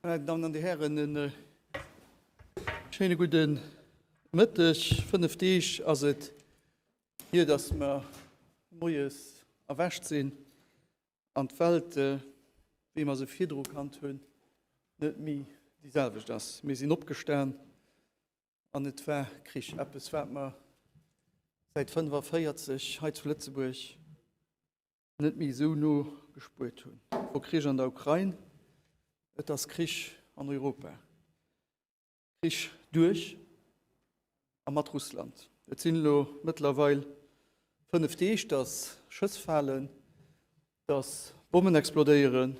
Meine Damen an de Hären, en äh, schéine guten Mëtteg. Fënnef Deeg ass et hier, dass mer moies erwächt sinn an d'Welt, äh, wéi mer se virdru kannt hunn, net méi déi selwecht ass. Mir sinn opgestan, An et war Krich, eppes, wat mer säit 1945 hei zu Lëtzebuerg net méi esou no gespuert hunn. Et wor Krich an der Ukrain, et ass Krich an Europa, Krich duerch a mat Russland. Et sinn elo mëttlerweil fënnef Deeg, datt Schëss falen, dass Bommen explodéieren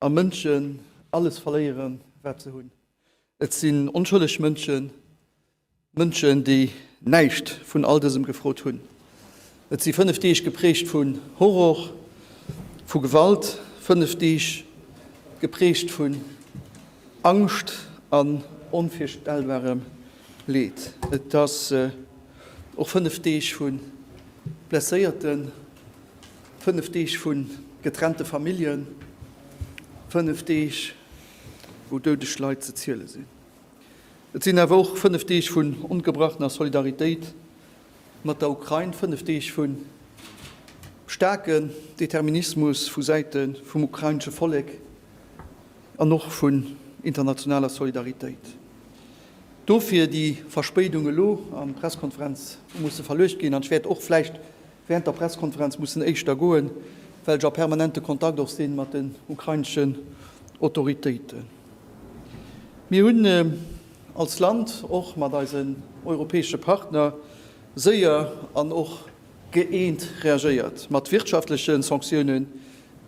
a Mënschen alles verléieren, wat se hunn. Et sinn onschëlleg Mënschen, Mënschen, déi näischt vun all dësem gefrot hunn. Et si fënnef Deeg geprägt vu Horror, vu Gewalt, fënnef Deeg geprägt vun Angscht an onvirstellbarem Leed. Et ass och fënnef Deeg vu Blesséierten. Fënnef Deeg vu getrennte Familljen, fënnef Deeg wou doudeg Leit ze ziele sinn. Et sinn awer och fënnef Deeg vun ongebrachner Solidaritéit mat der Ukrain, fënnef Deeg vu staarken Determinismus vu Säite vum ukrainesche Vollek an och vun internationaler Solidaritéit. Dofir déi Verspéidung elo an d'Presskonferenz musse verluecht ginn an ech wäert och vläicht, während der Presskonferenz mussen éischter goen, well ech a permanente Kontakt och sinn mat den ukraineschen Autoritéiten. Mir hunn als Land och mat eisen europäesche Partner séier an och gëeent reagéiert mat wirtschaftleche Sanktiounen,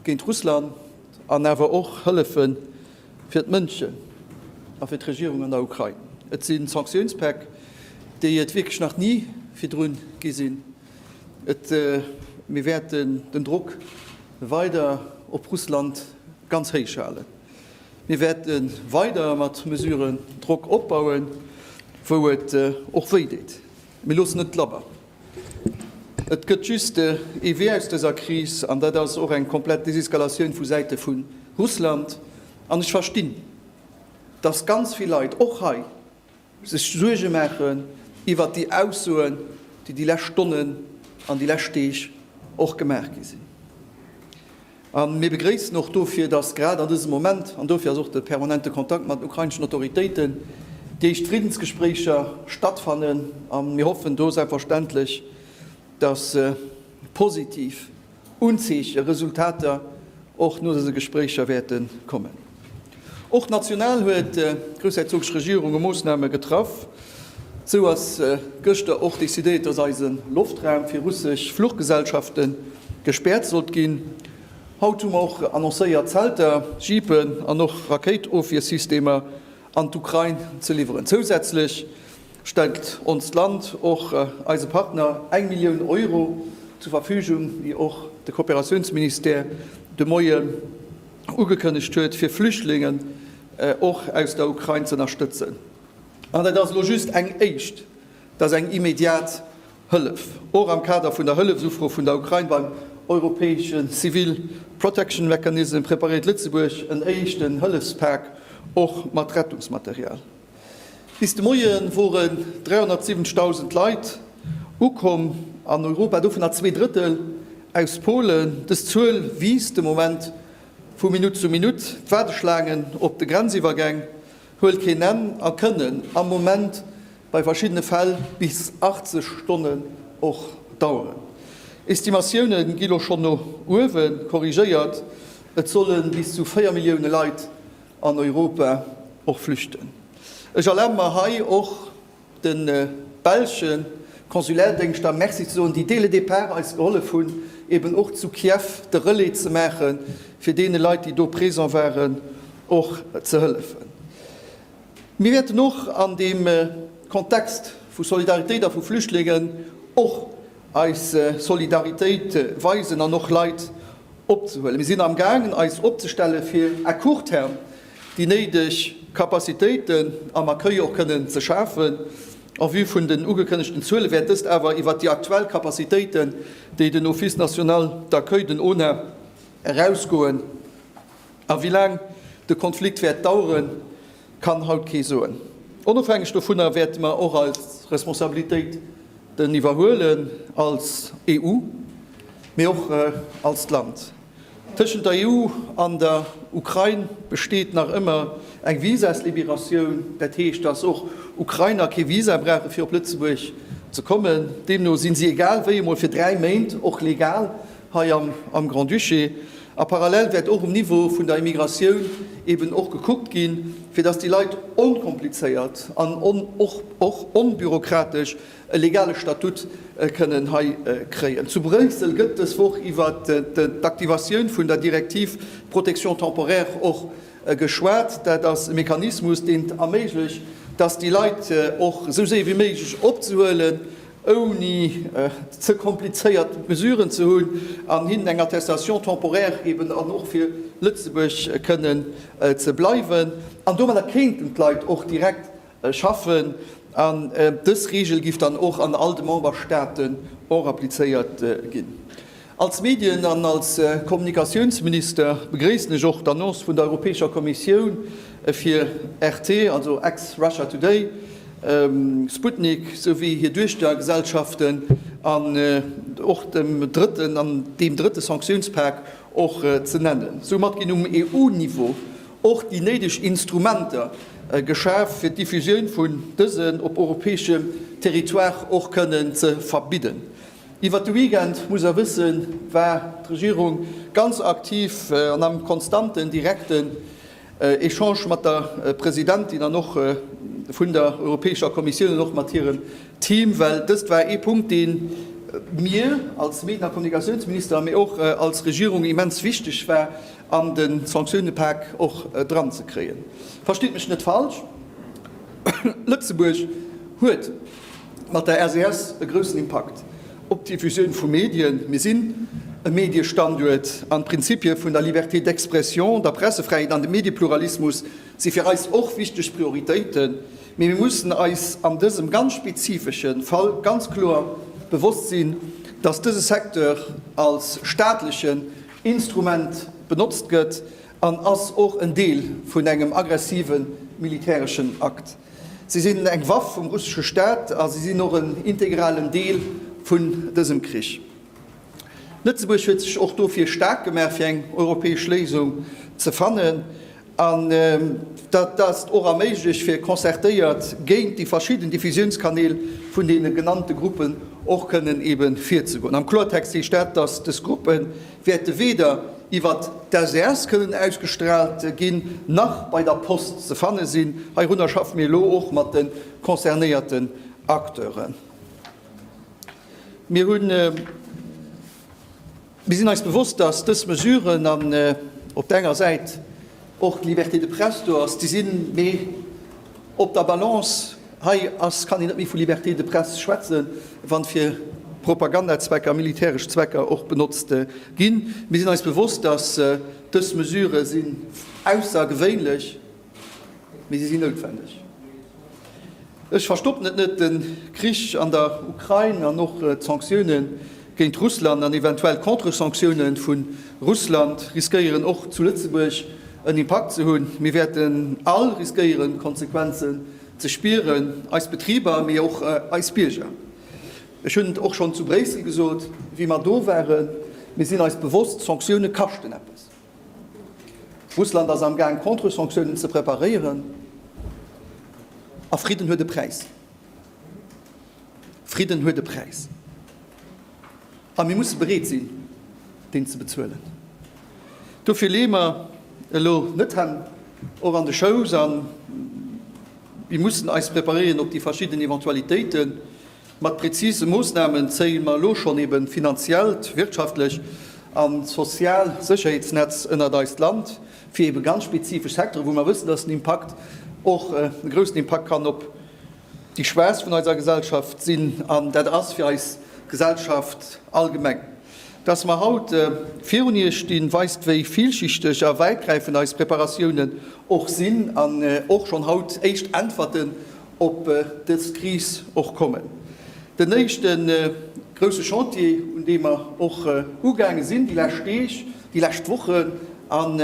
géint Russland an awer och hëllefe fir d'Mënschen a fir d'Regierung an der Ukrain. Et si Sanktiounspäck, déi et wierklech nach ni virdru gi sinn. Et mir wäerten den Drock weider op Russland ganz héich halen. Mir wäerte weider mat Mesuren Drock opbauen, wou et och wéi deet. Mir loossen net labber. Et gëtt just ee Wee aus dëser Kris, an dat ass och eng komplett Deseskalatioun vu Säite vu Russland. An ech verstinn, datt ganz vill Leit, och hei, sech Suerge maachen iwwert déi Aussoen, déi déi lescht Stonnen an déi lescht Deeg och gemaach gi sinn. A mir begréissen och dofir, dass grad an dësem Moment, an dofir ass och de permanente Kontakt mat den ukraineschen Autoritéiten, déi éischt Friddensgespréicher stattfannen. A mir hoffen do selbstverständlech, dass positiv Unzeeche, Resultater och no dëse Gespréicher wäerte kommen. Och national huet d'groussherzogsch Regierung e Moossname getraff. Sou ass gëschter och decidéiert, datt eise Loftraum fir russesch Fluchgesellschafte gespäert sollt ginn. Haut hu mer och annoncéiert Zelter, Jeepen an och Rakéitofwiersystemer an d'Ukrain ze liwweren. Zousätzlech stellt onst Land och eise Partner eng Millioun Euro zur Verfügung, wéi och de Kooperatiounsministère de Moie ugekënnegt huet, fir Flüchtlingen och aus der Ukrain ze ënnerstëtzen. An dat ass elo just eng éischt, dat ass eng immediat Hëllef, och am Kader vun der Hëllefsufro vun der Ukrain beim europäesche Civil Protection Mechanism preparéiert Lëtzebuerg en éischten Hëllefspak och mat Rettungsmaterial. Bis de Moien woren 370.000 Leit ukomm an Europa, dovunner zwee Drëttel aus Polen. Dës Zuel wiisst de Moment vu Minutt zu Minutt. D'Waardeschlaangen op de Grenziwwergäng huelt keen Enn a kënnen am Moment bei verschiddene Fäll bis 80 Stonnen och daueren. Estimatioune gi lo schonn no uewe korrigéiert, et solle bis zu 4 Millioune Leit an Europa och flüchten. Ech erlabe mer hei och de belsche Konsulärdéngschter Merci ze soen, déi dès le départ eis gehollef hunn, eben och zu Kiew de Relais ze maache fir deene Leit, déi do présent waren, och ze hëllefen. Mir wäerten och an deem Kontext vu Solidaritéit a vu Flüchtlingen och, eis Solidaritéit weisen an och Leit opzehuelen. Mir sinn amgaangen eis opzestelle fir à court terme déi néideg Capacitéiten am Accueil och kënnen ze schafen. En vue vun den ugekënnegten Zuele wäert dëst awer iwwert déi aktuell Capacitéiten, déi den Office national d'accueil, den ONA, erausgoen. A wéi laang de Konflikt wäert daueren, Kann haut kee soen. Onofhängeg dovunner wäerte mer och eis Responsabilitéiten iwwerhuelen als EU, mee och als Land. Tëschent der EU an der Ukrain besteet nach ëmmer eng Visaslibératioun. Dat heescht, dass och Ukrainer kee Visa brauchen, fir op Lëtzebuerg ze kommen. Deemno si si egal wéi emol fir dräi Méint och legal hei am Grand-Duché, a parallel wäert och um Niveau vun der Immigratioun eben och gekuckt ginn, fir datt déi Leit onkomplizéiert an och onbürokratesch e legale Statut kënnen hei kréien. Zu Bréissel gëtt dës Woch iwwer d'Aktivatioun vun der Direktiv Protection temporaire och geschwat. Dat ass e Mechanismus, deen et erméiglecht, datt déi Leit och esou séier wéi méiglech opzehuelen ouni ze komplizéiert Mesuren ze hunn, an hinnen eng Attestation temporaire geben an och fir Lëtzebuerg kënnen ze bleiwen. An domadder kéinten d'Leit och direkt schaffen. An dës Reegel giff dann och an all de Memberstaaten en applizéiert ginn. Als Medien an als Kommunikatiounsminister begréissen ech och d'Annonce vun der Europäescher Kommissioun fir RT, also ex-Russia Today, Sputnik, souwéi hir Duechtergesellschaften an och dem drëtten an deem drëtte Sanktiounspak och ze nennen. Soumat ginn um EU-Niveau och déi néideg Instrumenter geschaf, fir d'Diffusioun vun dësen op europäeschem Territoire och kënnen ze verbidden. Iwwert de Weekend, muss der wëssen, war d'Regierung ganz aktiv an am konstanten, direkten Echange mat der Presidentin an och vun der Europäescher Kommissioun an och mat hirem Team, well dëst war ee Punkt, dee mir als Medien a Kommunikatiounsminister, mee och als Regierung immens wichteg war, an de Sanktiounepak och dranzekréien. Versteet mech net falsch, Lëtzebuerg huet mat der SES e groussen Impakt op d'Diffusioun vu Medien. Mir sinn e Mediestanduert an d'Prinzipie vun der Liberté d'expression, der Pressefräiheet an dem Mediepluralismus si fir eis och wichteg Prioritéiten. Mee mir mussen eis an dësem ganz spezifesche Fall ganz kloer bewosst sinn, datt dëse Secteur als staatlechen Instrument benotzt gëtt an ass och en Deel vun engem aggressive militäreschen Akt. Si sinn eng Waff vum russesche Staat a si sinn och en integralen Deel vun dësem Krich. Lëtzebuerg huet sech och dofir staark gemaach, fir eng europäesch Léisung ze fannen. An dat ass och erméiglecht, fir concertéiert géint déi verschidden Diffusiounskanäl vun deene genannte Gruppen och kënnen ebe virzegoen. Am Kloertext heescht dat, dass dës Gruppen, wäerte weder iwwer d'SES kënnen ausgestraalt ginn, nach bei der Post ze fanne sinn. Heirunner schaffe mir elo och mat de concernéierten Acteuren. Mir sinn eis bewosst, dass dës Mesuren op der enger Säit och d'Liberté de presse do ass, déi sinn méi op der Balance. Hei ass, kann een net méi vu Liberté de presse schwätzen, wa fir Propagandazwecker, militäresch Zwecker och benotzt ginn. Mir sinn eis bewosst, datt dës Mesure sinn aussergewéinlech, mee si sinn noutwendeg. Ech verstoppen et net, den Krich an der Ukrain an och d'Sanktiounen géint Russland an eventuell Contre-Sanktiounen vun Russland riskéieren och zu Lëtzebuerg en Impakt ze hunn. Mir wäerten all riskéieren Konsequenzen ze spieren, eis Betriber mee och eis Bierger. Ech hunn et och schonn zu Bréissel gesot wéi mer do waren, mir sinn eis bewosst, Sanktiounen kaschten eppes. Russland ass am Gaang Contre-Sanctiounen ze preparéieren. A Fridden huet e Präis. Fridden huet e Präis. A mir musse bereet sinn, deen ze bezuelen. Dofir leeë mer elo net d'Hänn och an de Schouss a mir mussen eis preparéieren op déi verschidden Eventualitéiten. Mat prezise Moossnamen zéie mer elo schonn eben d'finanziellt, wirtschaftlech an d'sozial Sécherheetsnetz ënnert eist Land, fir eben ganz spezifesch Secteuren, wou mer wëssen, dass den Impakt och e groussen Impakt kann op déi Schwaachst vun eiser Gesellschaft sinn, an dat ass fir eis Gesellschaft allgemeng. Dass mer haut virun Iech stinn, weist wéi villschichteg a wäitgräifend eis Preparatiounen och sinn an och schonn haut éischt Äntwerten op dës Kris och kommen. Den éischte grousse Chantier, un deem mer och ugaange sinn déi lescht Deeg, déi lescht Wochen an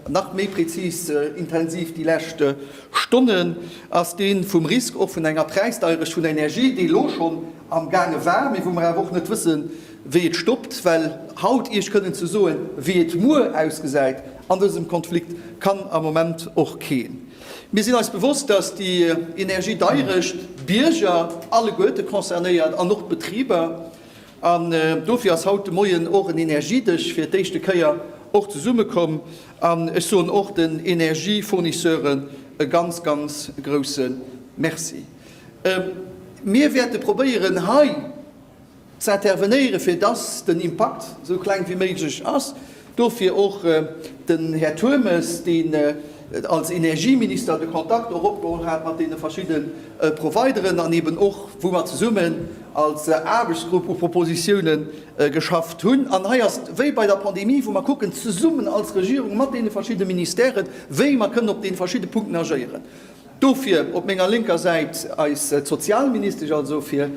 nach méi prezis intensiv déi lescht Stonnen, ass dee vum Risk och vun enger Präisdeierecht vun der Energie, déi elo schonn amgaange war, mee wou mer awer och net wëssen, wéi et stoppt. Well haut Iech kënnen ze soen, wéi et muer ausgesäit an dësem Konflikt, kann am Moment och keen. Mir sinn eis bewosst, dass déi energiedeierecht d'Bierger alleguerte concernéiert an och d'Betriber. An dofir ass haut de Moien och en Energiedësch fir d'éischte Kéier och zesummekomm. An ech soen och den Energiefournisseure ganz, ganz grousse Merci. Mir wäerte probéieren hei ze intervenéieren, fir dass den Impakt esou kleng wéi méiglech ass. Dofir och den Här Turmes, deen als Energieminister de Kontakt och opgeholl hat mat deene verschidde Provideren an eeben och, wou mer zesummen als Aarbechtsgrupp u Propositioune geschafft hunn. An hei ass et wéi bei der Pandemie, wou mer kucken, zesummen als Regierung mat deene verschidde Ministèren, wéi mer kënnen op deene verschidde Punkten agéieren. Dofir op menger lénker Säit eis d'Sozialministesch, also fir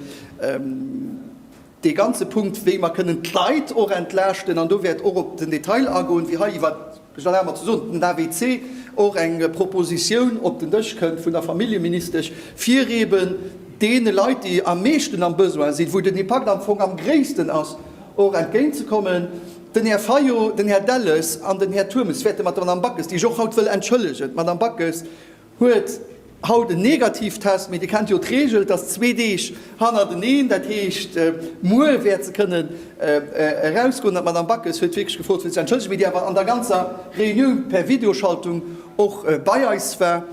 dee ganze Punkt, wéi mer kënnen d'Leit och entlaaschten, an do wäert och op den Detail agoen, wéi hei iwwer Gendarme ze soen, den AVC, och eng Propositioun op den Dësch kënnt vun der Familljeministesch, fir eeben deene Leit, déi am meeschten am Besoin sinn, wou den Impakt am Fong am gréissten ass, och entgéint ze kommen. Den Här Fayot, den Här Delles an den Här Turmes wäerte mat der Madame Backes, déi ech och haut wëll entschëllegen, d'Madame Backes, Huet haut en Negativtest, mee Dir kennt jo d'Reegel, dass zwee Deeg hannerteneen, dat heescht muer wäert se kënnen erausgoen. An d'Madame Backes huet wierklech gefrot fir ze entschëllegen, wéi Dir awer an der ganzer Reunioun per Videoschaltung och bei eis war,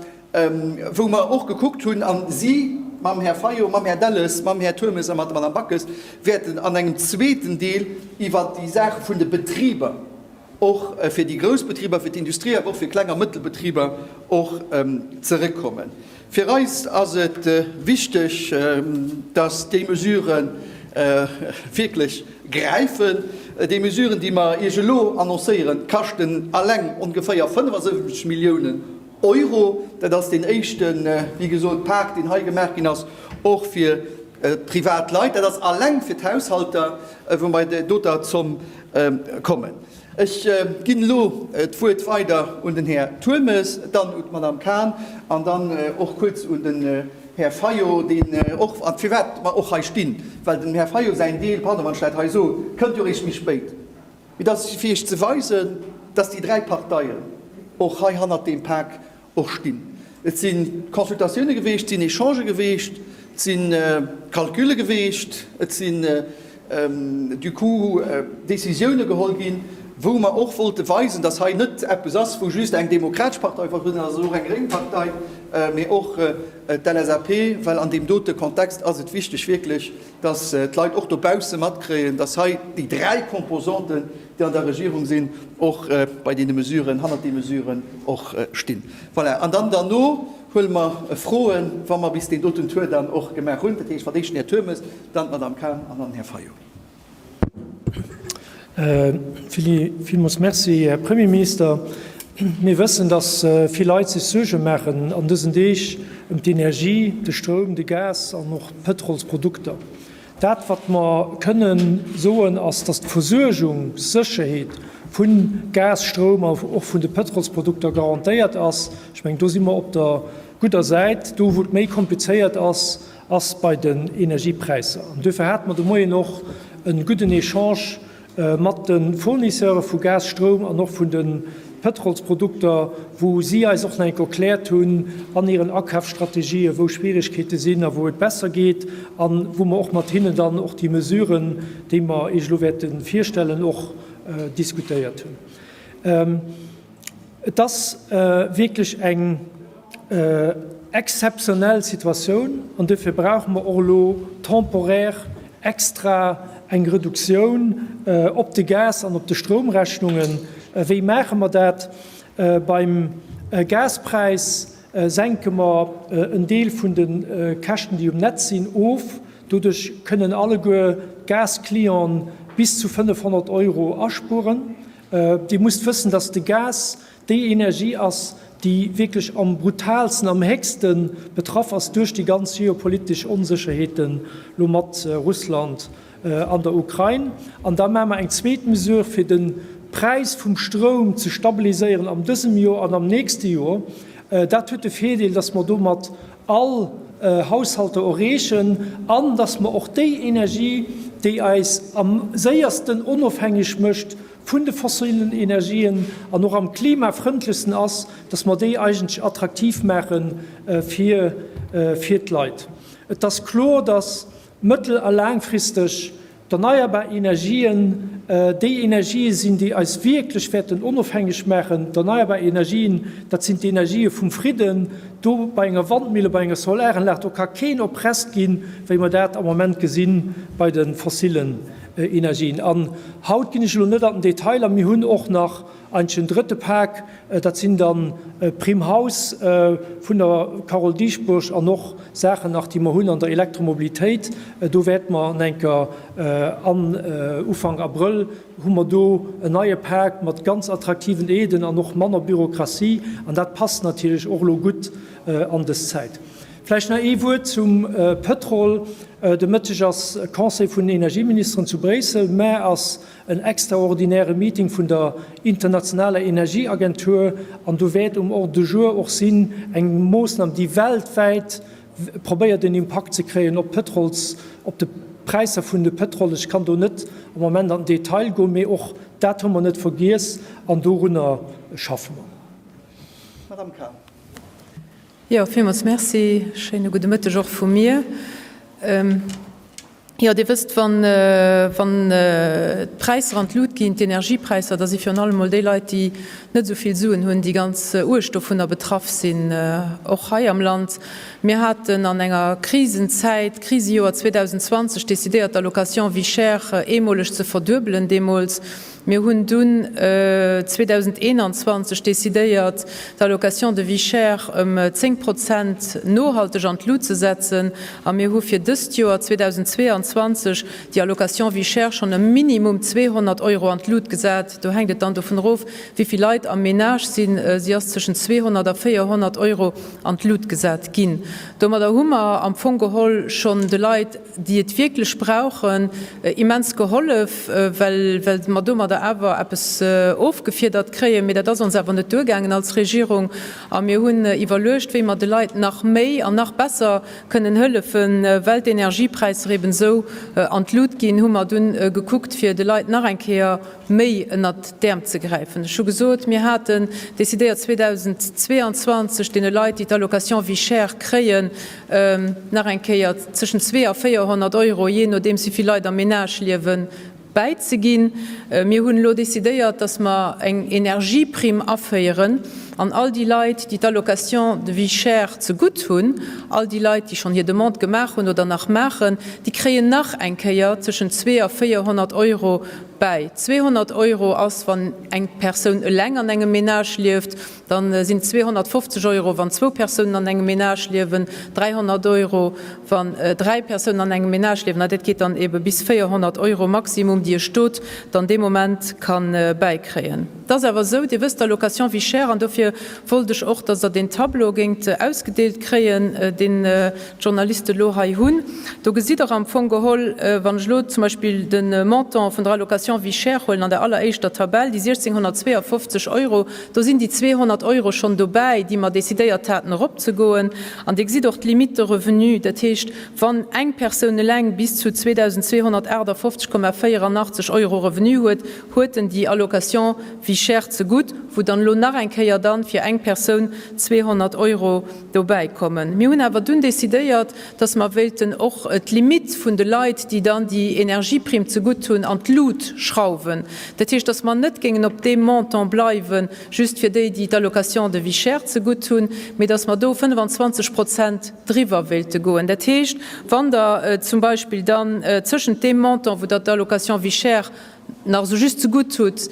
wou mer och gekuckt hunn, a si mam Här Fayot, mam Här Delles, mam Här Turmes a mat der Madame Backes wäerten an engem zweeten Deel iwwert déi Saach vun de Betriber, och fir déi grouss Betriber, fir d'Industrie, awer och fir Kleng a Mëttelbetriber och zeréckkommen. Fir eis ass et wichteg, dass déi Mesurë wierklech gräifen. Déi Mesuren, déi mer Iech elo annoncéieren, kaschten eleng ongeféier 75 Milliounen Euro. Dat ass deen éischte, wéi gesot, Pak, deen hei gemaach ginn ass, och fir d'Privatleit. Dat ass eleng fir d'Haushalter, wou mer doter Zomm kommen. Ech ginn elo d'Wuert weider un den Här Turmes, dann un d'Madame Cahn an dann och kuerz un den Här Fayot, deen och, firwat mer och hei stinn, well dem Här Fayot säin Deel, pardon, wann ech dat hei soen, kënnt jo eréischt méi spéit. Mee dat ass fir Iech ze weisen, dass déi dräi Parteien och hei hannert deem Pak och stinn. Et si Consultatioune geweecht, et sinn Echangë geweecht, et si Calcule geweecht, et sinn du coup Décisioune geholl ginn, wou mer och wollte weisen, datt hei net eppes ass, wou just eng demokratesch Partei vertrueden ass, et ass och eng gréng Partei, mee och d'LSAP, well an deem dote Kontext ass et wichteg wierklech, datt d'Leit och dobausse matkréien, datt hei déi dräi Composanten, déi an der Regierung sinn, och bei deene Mesuren, hannert deene Mesuren och stinn. Voilà. An dann derno huele mer Froen, wa mer bis deen doten Tour dann och gemaach hunn. Dat heescht, wann éischten Här Turmes, dann d'Madame Cahn an dann den Här Fayot. Willy, Villmools merci. Här Premierminister, mir wëssen, dass vill Leit sech Suerge maachen an dësen Deeg ëm d'Energie, de Stroum, de Gas an och d'Pëtrolsprodukter. Dat wat mer kënnen soen ass, dass d'Versuergungssécherheet vu Gas, Stroum a och vun de Pëtrolsprodukter garantéiert ass. Ech mengen do si mer op der gudder Säit. Do wou et méi komplizéiert ass, ass bei den Energiepräisser. An duerfir hate mer de Moien och e gudden Echange mat de Fournisseure vu Gas, Stroum an och vun de Pëtrolsprodukter, wou si eis och nach eng Kéier erkläert hunn an hiren Akafsstrategië wou Schwierigkeete sinn a wou et besser geet a wou mer och mat hinnen dann och déi Mesuren, déi mer Iech elo wäerte virstellen, och diskutéiert hunn. Et ass wierklech eng exzeptionell Situatioun an duerfir brauche mer och elo temporaire extra eng Reduktioun op de Gas an op de Stroumrechnungen. Wéi maache mer dat? Beim Gaspräis senke mer en Deel vun de Käschten, déi um Netz sinn, of. Doduerch kënnen alleguer d'Gasclienten bis zu 500 Euro aspueren. Dir musst wëssen, dass de Gas déi Energie ass, déi wierklech am brutaalsten, am héchste betraff ass duerch déi ganz geopolitesch Onsécherheeten, elo mat Russland an der Ukrain. An da maache mer eng zweet Mesure, fir de Präis vum Stroum ze stabiliséieren an dësem Jor an am nächste Jor. Dat huet de Virdeel, dass mer domat all Haushalter erreechen an dass mer och déi Energie, déi eis am séiersten onofhängeg mécht vun de fossilen Energien an och am klimafrëndlechsten ass, dass mer déi eigentlech attraktiv maache fir d'Leit. Et ass kloer, dass mëttel a laangfristeg D'erneierbar Energien, déi Energië sinn, déi eis wierklech wäerten onofhängeg maachen. D'erneierbar Energien, dat sinn d'Energië vum Fridden. Do bei enger Wandmille, bei enger Solaranlag, do ka keen oppresst ginn, wéi mer dat am Moment gesi bei de fossillen Energien. An haut ginn ech elo net an den Detail a. Mir hunn och nach Eigentlech den drëtte Pak, dat sinn dann Prime Haus vun der Carole Dieschbourg an och Saachen nach, déi mer hunn an der Elektromobilitéit. Do wäerte mer an enker an Ufank Abrëll hu mer do en neie Pak mat ganz attraktiven Aiden an och manner Bürokratie. An dat passt natierlech och elo gutt an dës Zäit. Vläicht nach ee Wuert zum Pëtrol. De Mëtteg ass Conseil vun den Energieministeren zu Bréissel. D'Mme ass En extraordinäre Meeting vun der internationaler Energieagentur, an do wäert um Ordre du jour och sinn eng Moossnam, déi weltwäit probéiert en Impakt ze kréien op d'Pëtrols, op de Präisser vun de Pëtrol. Ech kann do net am Moment an den Detail goen, mee och dat hu mer net vergiess an dorunner schaffe mer. Madame Carr. Jo, villmools Merci. Schéine gudde Mëtteg och vu mir. Jo, Dir wësst, wann, wann d'Präisser an d'Lut ginn, d'Energiepräisser, da si virun allem emol déi Leit, déi net esou vill Suen hunn, déi ganz uerg dovunner betraff sinn, och hei am Land. Mir haten an enger Krisenzäit, Krisejoer 2020, decidéiert, d'Allocation vie chère eemoleg ze verduebelen deemools. Mir hunn dunn 2021 decidéiert, d'Allocation de vie chère ëm 10 Prozent nohalteg an d'Lut ze setzen a mir hu fir dëst Joer 2022 déi Allocation vie chère schonn ëm minimum 200 Euro an d'Lut gesat. Do hänkt et dann dovun erof, wéi vill Leit am Menage sinn. Si ass tëschent 200 a 400 Euro an d'Lut gesat ginn. Domadder hu mer am Fong geholl schonn de Leit, déi et wierklech brauchen, immens gehollef, well mer domadder awer eppes ofgefiedert kréien. Mee dat ass ons awer net duergaangen als Regierung a mir hunn iwwerluecht, wéi mer de Leit nach méi an nach besser kënnen hëllefen. Well d'Energiepräisser eben esou an d'Lut ginn, hu mer dunn gekuckt, fir de Leit nach eng Kéier méi ënnert d'Äerm ze gräifen. Ech hu gesot, mir haten decidéiert 2022 deene Leit, déi d'Allocation vie chère kréien, nach eng Kéier tëschent 200 a 400 Euro, jee nodeems wéi vill Leit am Menage liewen, bäizeginn. Mir hunn elo decidéiert, dass mer eng Energieprimm aféieren an all déi Leit, déi d'Allocation de vie chère zegutt hunn, all déi Leit, déi schonn hir Demande gemaach hunn oder nach maachen, déi kréien nach eng Kéier tëschent 200 a 400 Euro bäi. 200 Euro ass, wann eng Persoun eleng an engem Menage lieft. Da sinn et 250 Euro, wann zwou Persounen an engem Menage liewen, 300 Euro, wann dräi Persounen an engem Menage liewen, a dat geet dann eebe bis 400 Euro Maximum, déi e Stot dann dee Moment ka bäikréien. Et ass awer esou, Dir wësst, d'Allocation vie chère, an dofir wollt ech och, dass Der deen Tableau géingt ausgedeelt kréien, deen d'Journaliste elo hei hunn. Do gesitt Der am Fong geholl, wann ech elo zum Beispill de Montant vun der Allocation vie chère huelen, an der alleréischter Tabell, déi 1 652 Euro, Do sinn déi 200 Euro schonn dobäi, déi mer decidéiert haten eropzegoen. An Dir gesitt och d'Limite de revenu. Dat heescht, wann eng Persoun eleng bis zu 2.258,84 Euro Revenu huet, huet en déi Allocation vie chère zegutt, wou dann elo nach eng Kéier dann fir eng Persoun 200 Euro dobäikommen. Mir hunn awer dunn decidéiert, dass mer wéilten och d'Limitt vun de Leit, déi dann déi Energieprimm zegutt hunn, an d'Lut schrauwen. Dat heescht, dass mer net géingen op deem Montant bleiwen, just fir déi, déi d'Allocation de vie chère zegutt hunn, mee dass mer do 25 Prozent driwwer wéilte goen. Dat heescht, wann Der zum Beispill dann tëschent deem Montant, wou Der d'Allocation vie chère nach esou just ze gutt hutt,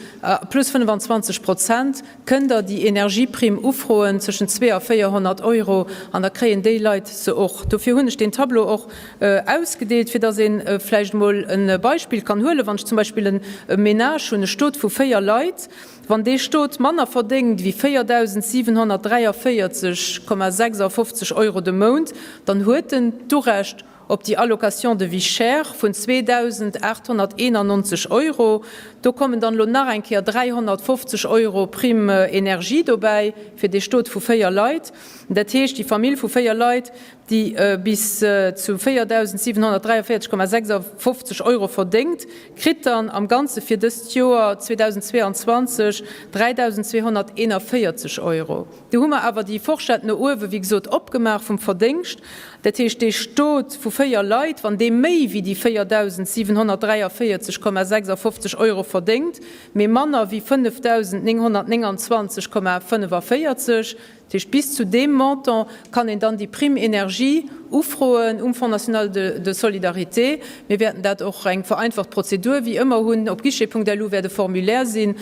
plus 25 Prozent, kënnt Der déi Energieprimm ufroen, zwëschen 2 a 400 Euro, an da kréien déi Leit se och. Dofir hunn ech deen Tableau och ausgedeelt, fir datt ee vläicht emol e Beispill kann huelen. Wann ech zum Beispill e Ménage hunn, e Stot vu véier Leit, wann dee Stot manner verdéngt wéi 4.743,56 Euro de Mount, dann huet en d'Urecht, Op déi Allocation de vie chère vun 2.891 Euro, do kommen dann elo nach eng Kéier 350 Euro Prime énergie dobäi fir dee Stot vu véier Leit. Dat heescht, déi Famill vu véier Leit, déi bis zu 4.743,56 Euro verdéngt, kritt dann am Ganze fir dëst Joer 2022 3.241 Euro. Do hu mer awer déi Forschett no uewe wéi gesot opgemaach vum Verdéngscht. Dat heescht, dee Stot vu véier Leit, wann dee méi wéi déi 4.743,56 Euro verdéngt, mee manner wéi 5.929,45, dat heescht bis zu deem Montant kann een dann déi Prime énergie ufroen um Fonds national de solidarité. Mir wäerten dat och eng vereinfacht Prozedur wéi ëmmer hunn. Op guichet.lu wäert e Formulaire sinn.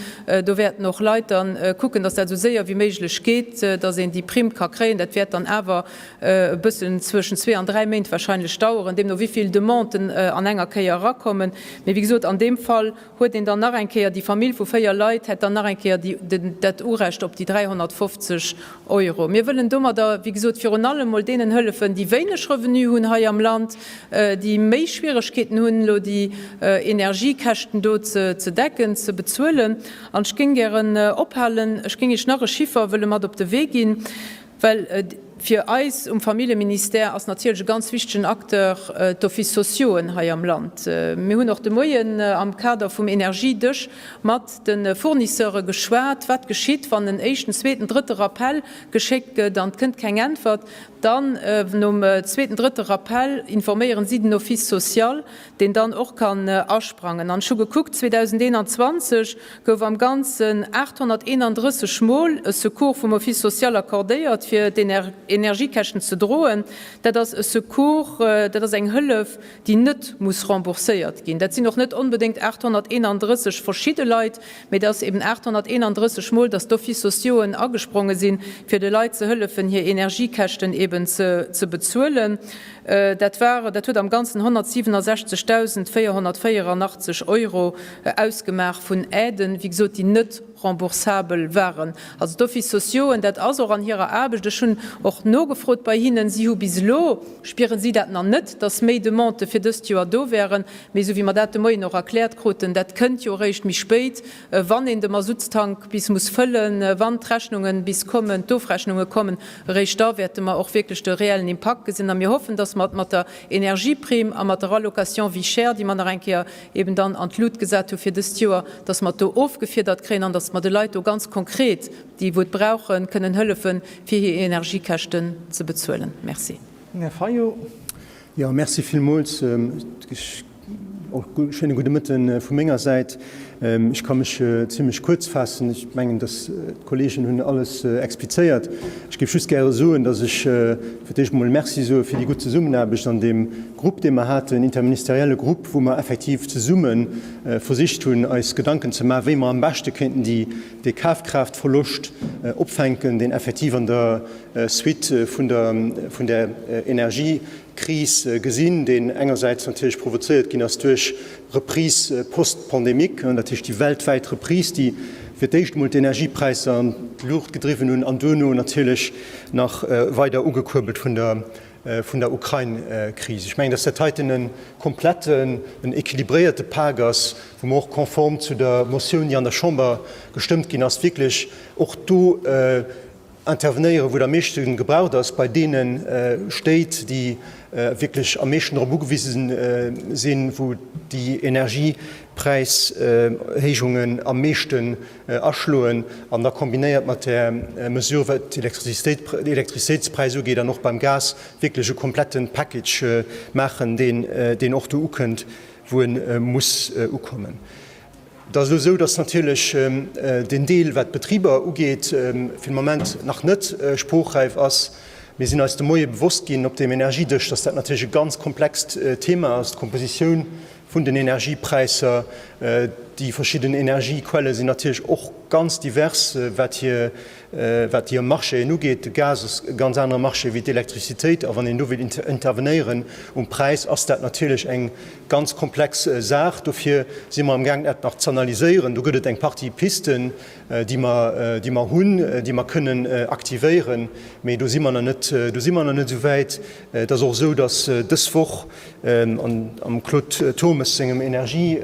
Do wäerten och Leit dann kucken, dass dat esou séier wéi méiglech geet, dass een déi Primm ka kréien. Dat wäert dann awer e bëssen zwëschen zwee an dräi Méint wahrscheinlech daueren, deemno wéi vill Demanden an enger Kéier erakommen. Mee wéi gesot, an deem Fall Huet een dann nach eng Kéier, déi Famill vu véier Leit hätt dann nach eng Kéier dat Urecht op déi 350 Euro. Mir wëllen domadder, wéi gesot, virun allem emol deenen hëllefen, déi wéineg Revenu hunn hei am Land, déi méi Schwieregkeeten hunn, elo déi Energiekäschten do ze decken, ze bezuelen. An ech géing gären ophalen, ech géing Iech nach e Chiffer wëlle mat op de Wee ginn, Well fir eis um Familljeministère ass natierlech e ganz wichtegen Acteur d'Office sociauxen hei am Land. Mir hunn och de Moien am Kader vum Energiedësch mat de Fournisseure geschwat, wat geschitt, wann en éischten, zweeten, drëtte Rappell geschéckt gëtt an et kënnt keng Äntwert. Dann nom zweeten, drëtte Rappell informéieren si den Office social. deen dann och kann asprangen an ech hu gekuckt, 2021 gouf am Ganzen 831 Mol e Secours vum Office social accordéiert, fir d'Energiekäschten ze droen. Dat ass e Secours, dat ass eng Hëllef, déi net muss rembourséiert ginn. Dat sinn och net onbedéngt 831 verschidde Leit, mee dat ass eben 831 Mol, dass d'Office sociauxen agespronge sinn, fir de Leit ze hëllefen, hir Energiekäschten eben ze bezuelen. Dat waren, dat huet am Ganzen 167.484 Euro ausgemaach vun Aiden, wéi gesot, déi net remboursabel waren. Also d'Offices sociaux'en, dat ass och an hirer Aarbecht, ech hunn och nogefrot bei hinnen, si hu bis elo, spieren si dat nach net, dass méi Demandë fir dëst Joer do wären. Mee esou wéi mer dat de Moien och erkläert kruten, dat kënnt jo eréischt méi spéit, wann een de Masuttstank bis muss fëllen, wann d'Rechnungen bis kommen, d'Ofrechnunge kommen, eréischt da wäerte mer och wierklech de reellen Impakt gesinn. A mir hoffen, dass mer et mat der Energieprimm a mat der Allocation vie chère, déi mer nach eng Kéier eben dann an d'Lut gesat hu fir dëst Joer, dass mer et do ofgefiedert kréien an dass mer de Leit do ganz konkret, déi wou et brauchen, kënnen hëllefen, fir hir Energiekäschten ze bezuelen. Merci. Mme Fayot. Jo, merci villmools. Och e schéine gudde Mëtte vu menger Säit. Ech ka mech zimlech kuerz faassen. Ech mengen, dass d'Kolleegen hunn alles explizéiert. Ech géif just gäre soen, dass ech fir d'éischt emol Merci soe fir déi gutt Zesummenaarbecht an deem Grupp, dee mer haten, interministerielle Grupp, wou mer effektiv zesumme versicht hunn, eis Gedanken ze maachen, wéi mer am beschte kéinten dee Kafkraaftverloscht opfänken, deen effektiv an der Suite vun der Energiekris gesinn, déi engersäits natierlech provozéiert ginn ass duerch Reprise post-pandémique, dat heescht déi weltwäit Reprise, déi fir d'éischt emol d'Energiepräisser an d'Luucht gedriwwen hunn an duerno natierlech nach weider ugekuerbelt vun der Ukrain-Kris. Ech mengen, dass dat heiten e kompletten, en équilibréierte Pak ass, wou mer och konform zu der Motioun, déi an der Chamber gestëmmt ginn ass, wierklech och do, intervenéieren, wou et am meeschte gebraucht ass, bei deene Stéit, déi wierklech am meeschten dorop ugewise sinn, wou déi Energiepräishéijungen am meeschten aschloen, an da kombinéiert mat där Mesure, wat d'Elektrizitéitspräis ugeet an och beim Gas, wierklech e komplette Package maachen, deen och do ukënnt, wou e muss ukommen. Et ass elo esou, dass natierlech deen Deel, wat d'Betriber ugeet, fir de Moment nach net sproochräif ass. Mir sinn eis de Moie bewosst ginn op deem Energiedësch, dass dat natierlech e ganz komplext Thema ass, d'Kompositioun vun den Energiepräisser. Déi verschidden Energiequelle sinn natierlech och ganz divers, wat hir Wat déi Marchéen ugeet, de Gas ass e ganz anere Marché wéi d'Elektricitéit. A wann een do wéilt intervenéieren um Präis, ass dat natierlech eng ganz komplex Saach. Dofir si mer amgaangen, dat nach z'analyséieren. Do gëtt et eng Partie Pisten, déi mer, déi mer hunn, déi mer kënnen aktivéieren. Mee do si mer nach net, do si mer nach net esou wäit. Et ass och esou, datt dës Woch am Claude Turmes sengem Energie,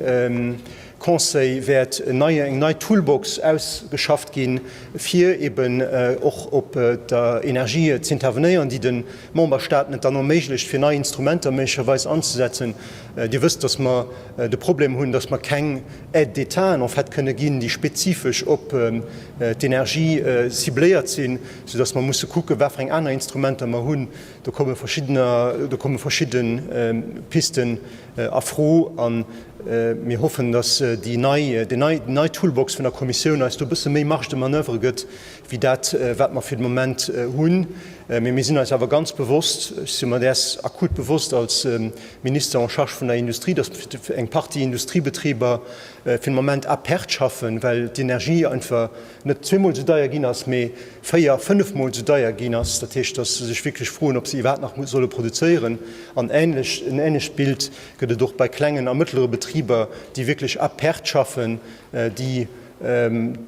Conseil wäert en neie, eng nei Toolbox ausgeschafft ginn, fir eben och op der Energie z'intervenéieren, déi de Memberstaaten et dann erméiglecht, fir nei Instrumenter méiglecherweis anzesetzen. Dir wësst, dass mer de Problem hunn, dass mer keng Aide d'État en fait kënne ginn, déi spezifesch op d'Energie cibléiert sinn, soudass mer musse kucken, wat fir eng aner Instrumenter mer hunn. Do komme verschiddener, do komme verschidde Pisten a Fro a mir hoffen, dass déi nei, déi nei Toolbox vun der Kommissioun eis do e bësse méi Marge de manoeuvre gëtt wéi dat, wat mer fir de Moment hunn. Mee mir sinn eis awer ganz bewosst, ech si mer däers akut bewosst als Minister en charge vun der Industrie, dass eng Partie Industriebetriber fir de Moment à perte schaffen, well d'Energie einfach, net zweemol esou deier ginn ass, mee véier, fënnefmol esou deier ginn ass. Dat heescht, datt se sech wierklech froen, ob se iwwerhaapt nach solle produzéieren. An änlech, en änlecht Bild gëtt et och bei klengen a mëttlere Betriber, déi wierklech à perte schaffen, déi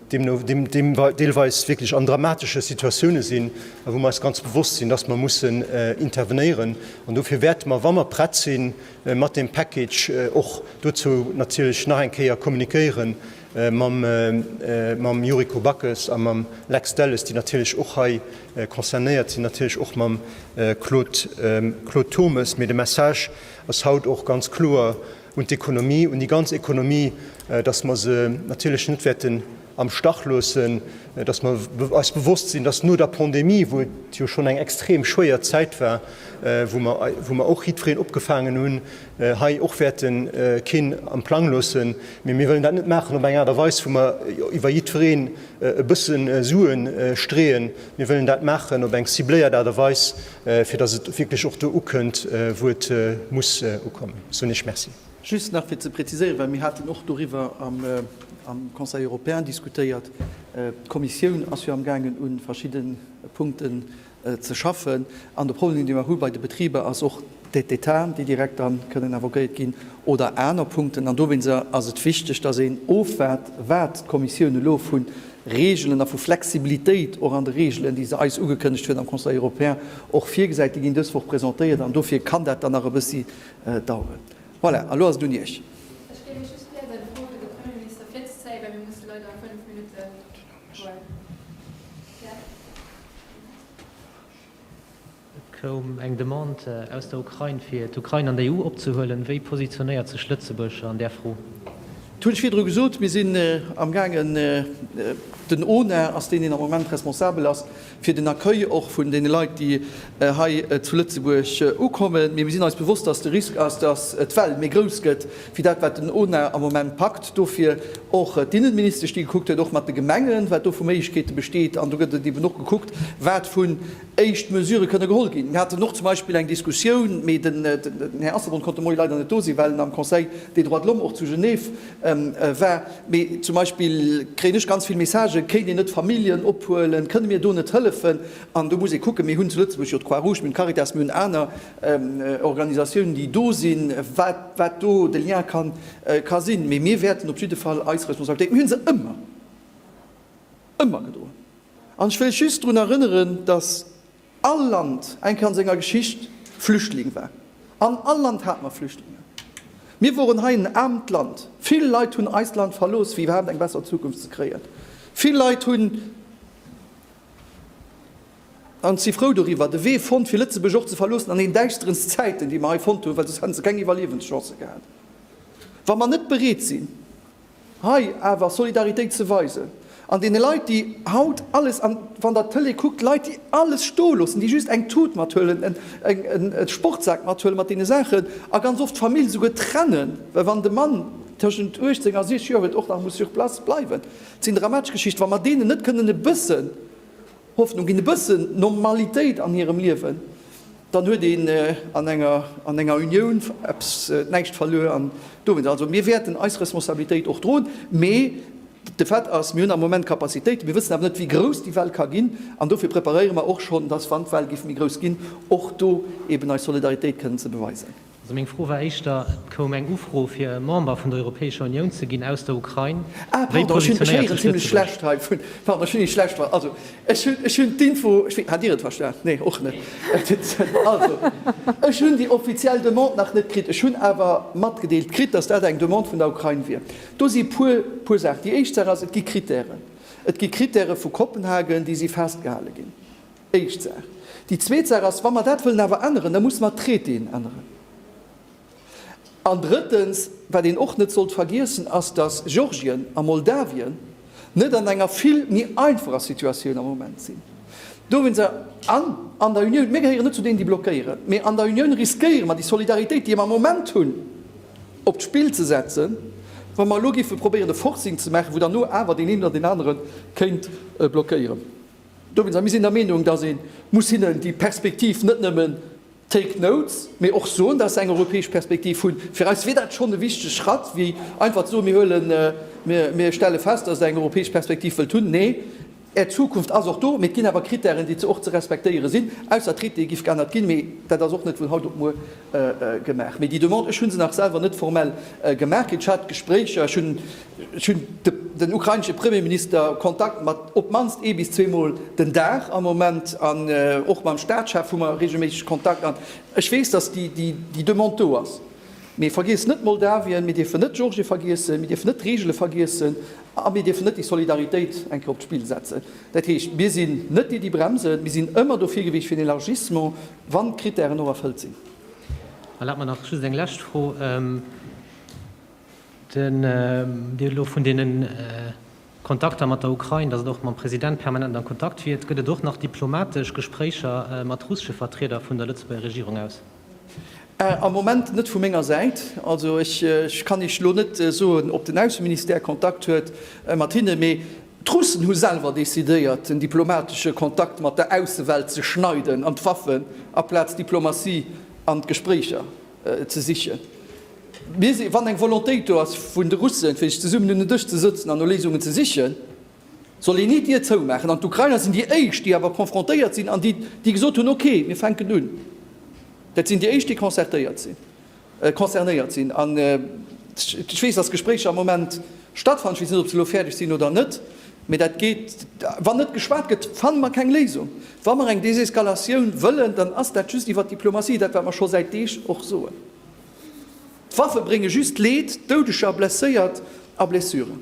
deemno deelweis wierklech an dramatesche Situatioune sinn, a wou mer eis ganz bewosst sinn, datt mer mussen intervenéieren. An dofir wäerte mer, wa mer prett si mat deem Package, och dozou natierlech nach eng Kéier kommuniquéieren, mam Yuriko Backes a mam Lex Delles, déi natierlech och hei concernéiert sinn, natierlech och mam Claude Turmes. Mee de Message ass haut och ganz kloer un d'Ekonomie, un déi ganz Economie, datt mer se natierlech net wäerten am Stach loossen, datt mer eis bewosst sinn, datt no der Pandemie, wou et jo schonn eng extrem schwéier Zäit war, wou mer och jiddwereen opgefaangen hunn, hei och wäerten keen am Plang loossen, mee mir wëllen dat net maachen op eng Aart a Weis, wou mer iwwer jiddwereen e bësse Sue streeën. Mir wëllen dat maachen op eng cibléiert Aart a Weis, fir datt et wierklech och do ukënnt, wou et muss ukommen, soen ech Merci. Just nach fir ze präziséieren, well mir haten och doriwwer am Conseil européen diskutéiert, D'Kommissioun ass jo amgaangen, u verschidde Punkten ze schaffen an de Problem dee mer hu bei de Betriber ass och d'Aid'Etat, déi direkt dann kënnen invoquéiert ginn oder aner Punkten an dowéinst ass et wichteg, datt een ofwaart wat d'Kommissioun elo vu Regelen a vu Flexibilitéit och an de Regelen, déi se eis ugekënnegt huet am Conseil européen, och virgesäit. Déi ginn dës Woch presentéiert an dofir kann dat dann nach e bëssi daueren. Voilà, elo ass et un Iech. Et koum eng Demande aus der Ukrain, fir d'Ukrain an der EU opzehuelen. Wéi positionéiert sech Lëtzebuerg an där Fro? Et hunn ech virdru gesot, mir sinn amgaangen, den ONA ass deen, deen am Moment responsabel ass, fir den Accueil och vun deene Leit, déi hei zu Lëtzebuerg ukommen. Mee mir sinn eis bewosst, dass de Risk ass, dass d'Well méi grouss gëtt wéi dat, wat den ONA am Moment packt. Dofir och d'Innenministesch, déi gekuckt huet, och mat de Gemengen, wat do vu Méiglechkeete besteet. An do gëtt et eben och gekuckt, wat vun éischt Mesurë kënne geholl ginn. Mir haten och zum Beispill eng Diskussioun, mee den Här Asselborn konnt de Moie leider net do sinn, well en am Conseil des droits de l'homme och zu Genève war, mee zum Beispill kréien ech ganz vill Messagen, kéint een net Familljen ophuelen, kënne mir do net hëllefen? An do muss ee kucken, mir hunn zu Lëtzebuerg jo d'Croix Rouge, mir hunn d'Caritas, mir hunn aner Organisatiounen, déi do sinn, wat wat do de Lien ka ka sinn. Mee mir wäerten op jidde Fall eis Responsabilitéit, mir hu se ëmmer, ëmmer gedroen. An ech wëll just drun erënneren, datt. All Land eng Kéier an senger Geschicht Flüchtling war. An all Land hat mer Flüchtlingen. Mir woren hei en aarmt Land. Vill Leit hunn eist Land verlooss fir iwwerhaapt eng besser Zukunft ze kréien. Vill Leit hunn, an si frou doriwwer, de Wee fonnt fir Lëtzebuerg och ze verloossen an den däischterenst Zäiten déi mer hei fonnt hunn, well soss hätten se keng Iwwerliewenschance gehat. Wa mer net bereet sinn Hei awer Solidaritéit ze weisen an deene Leit, déi haut alles, an wann Der d'Tëlee kuckt, Leit, déi alles stoe loossen, déi just eng Tut mathuelen, e Sportsak mathuelen mat deene Saachen a ganz oft d'Famill esouguer trennen, well wann de Mann tëschent 18 a 60 Joer huet, och nach muss sur place bleiwen. Dat sinn dramatesch Geschichten. Wa mer deenen net kënnen e bëssen Hoffnung ginn, e bëssen Normalitéit an hirem Liewen, dann huet een an enger, an enger Unioun eppes, näischt verluer. An dowéinst also, mir wäerten eis Responsabilitéit och droen, mee de Fait ass, mir hunn am Moment Kapazitéiten, mir wëssen awer net, wéi grouss déi Well ka ginn, an dofir preparéiere mer och schonn, dass, wann d'Well géif méi grouss ginn, och do eeben eis Solidaritéit kënnen ze beweisen. Also meng Fro war éischter, et koum eng Ufro fir e Member vun der Europäescher Unioun ze ginn aus der Ukrain. Ah Wéi pardon, ech hunn, ech positionéiert héieren sech zimlech Lëtzebuerg? schlecht hei vun, pardon, ech hunn ee schlecht ver, also ech hunn, ech hunn d'Info, ech wee, hat Dir et verstan? Nee, och net. Et huet sinn, also ech hunn déi offiziell Demande nach net kritt. Ech hunn awer matgedeelt kritt, datt dat eng Demande vun der Ukrain wier. Do si puer, puer Saachen. Déi éischt Saach ass, et gi Krittären. Et gi Krittäre vu Kopenhagen, déi si festgehale ginn. Éischt Saach. Déi zweet Saach ass, wa mer dat wëllen awer änneren, da musse mer d'Traitéen änneren. An drëttens, wat een och net sollt vergiessen, ass, dass Georgien a Moldawien net an enger vill méi einfacher Situatioun am Moment sinn. Dowéinst a an an der Unioun, mir gehéieren net zu deenen, déi blockéieren, mee an der Unioun riskéiere mer déi Solidaritéit, déi mer am Moment hunn, op d'Spill ze setzen, wa mer elo géife probéieren e Forcing ze maachen, wou dann no awer deen een oder deen anere kéint blockéieren. Dowéinst, a mir sinn der Meenung, datt ee muss hinnen déi Perspektiv net nëmmen take notes, mee och soen, datt se eng europäesch Perspektiv hunn. Fir eis wier dat schonn e wichtege Schratt, wéi einfach ze soen, mir huelen, mir stelle fest, datt Der eng europäesch Perspektiv wëllt hunn. Nee, Är Zukunft ass och do, mee et ginn awer Krittären, déi och ze respektéiere sinn, ausser d'Traitéë giff geännert ginn, mee dat ass och net vun haut op muer gemaach. Mee déi Demande, ech hu se nach selwer net formell gemaach kritt, ech hat Gespréicher, ech hunn Ech hunn den ukrainesche Premierminister Kontakt mat op d'mannst ee bis zwee Mol den Dag am Moment an och mam Staatschef hu mer reegelméisseg Kontakt. An ech weess, datt déi Demande do ass. Mee vergiesst net Moldawien, mir dierfen net Georgien vergiessen, mir dierfen net d'Reegele vergiessen a mir dierfen net déi Solidaritéit eng Kéier op d'Spill setzen. Dat heescht, mir sinn net déi, déi bremsen. Mir sinn ëmmer dofir gewiescht fir en Elargissement, wann d'Krittären och erfëllt sinn. Erlaabt mer nach just eng lescht Fro. Den Dir hutt elo vun deene Kontakter mat der Ukrain, datt et och mam President permanent am Kontakt wiert. Gëtt et och nach diplomatesch Gespréicher mat russesche Vertrieder vun der Lëtzebuerger Regierung aus? Am Moment net vu menger Säit. Also ech kann Iech elo net soen, ob den Ausseministère Kontakt huet mat hinne. Mee d'Russen hu selwer decidéiert, den diplomatesche Kontakt mat der Aussewelt ze schneiden an d'Waffen aplaz d'Diplomatie an d'Gespréicher. ze sichen. Mir si, wann eng Volontéit do ass vun de Russen, fir sech zesummen un en Dësch ze sëtzen an no Léisungen ze sichen, soll een ni d'Dier zoumaachen. An d'Ukrainer sinn déi éischt, déi awer konfrontéiert sinn an déi, déi gesot hunn, ok, mir fänken un. Dat sinn déi éischt, déi concertéiert sinn, concernéiert sinn. An ech weess, dass Gespréicher am Moment, Stattfannen. Ech weess net, ob se elo fäerdeg sinn oder net, mä dat geet, wann net geschwat gëtt, fanne mer keng Léisung. Wa mer eng Deseskalatioun wëllen, dann ass dat just iwwert Diplomatie, dat wat mer scho säit Deeg och soen. D'Waffe brénge just Leed, Doudeger, Blesséiert a Blessuren.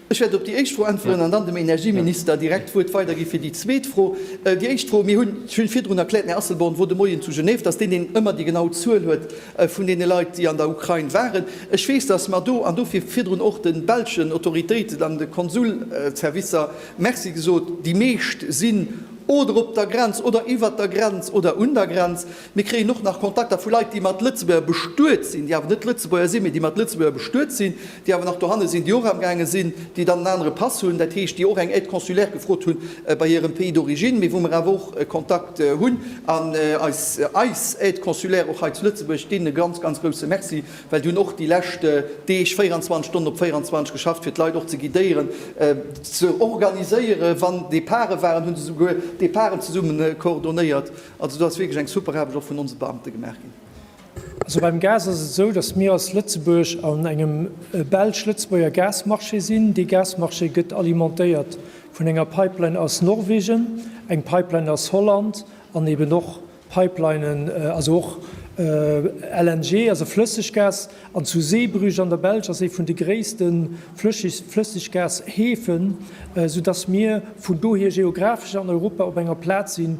Ech wäert op déi éischt Fro äntweren an dann dem Energieminister direkt d'Wuert weidergi fir déi zweet Fro. Déi éischt Fro, mir hunn, ech hunn virdrun erkläert, den Här Asselborn wor de Moien zu Genève, datt deen een ëmmer déi genau Zuel huet vun deene Leit, déi an der Ukrain waren. Ech weess, datt mer do, an dofir virdrun och de belschen Autoritéiten an de Konsulservicer Merci gesot, déi meescht sinn oder op der Grenz oder iwwert der Grenz oder un der Grenz. Mir kréien och nach Kontakter vu Leit, déi mat Lëtzebuerger bestuet sinn, déi awer net Lëtzebuerger sinn, mee déi mat Lëtzebuerger bestuet sinn, déi awer nach dohanne sinn, déi och amgaange sinn, déi dann en anere Pass hunn, dat heescht, déi och eng Aide consulaire gefrot hu bei hirem Pays d'origine, mee wou mer awer och Kontakt hunn an eis eis Aide consulaire och hei zu Lëtzebuerg, deenen e ganz, ganz grouse Merci, well déi hunn och déi lescht Deeg 24 Stonnen op 24 geschafft, fir d'Leit och ze guidéieren, ze organiséieren, wann Départe waren, hu se souguer Départen zesumme coordonéiert. Also do ass wierklech eng super Aarbecht och vun onse Beamte gemaach ginn. Also beim Gas ass et esou, datt mir als Lëtzebuerg an engem belsch-lëtzebuerger Gasmarché sinn. Dee Gasmarché gëtt alimentéiert vun enger Pipeline aus Norwegen, eng Pipeline aus Holland an eben och Pipelinen, also och LNG, also Flësseggas. An zu Zeebrugge an der Belsch ass ee vun de gréisste Flësseggas-Häfen, esoudatt mir vun dohier geographesch an Europa op enger Plaz sinn,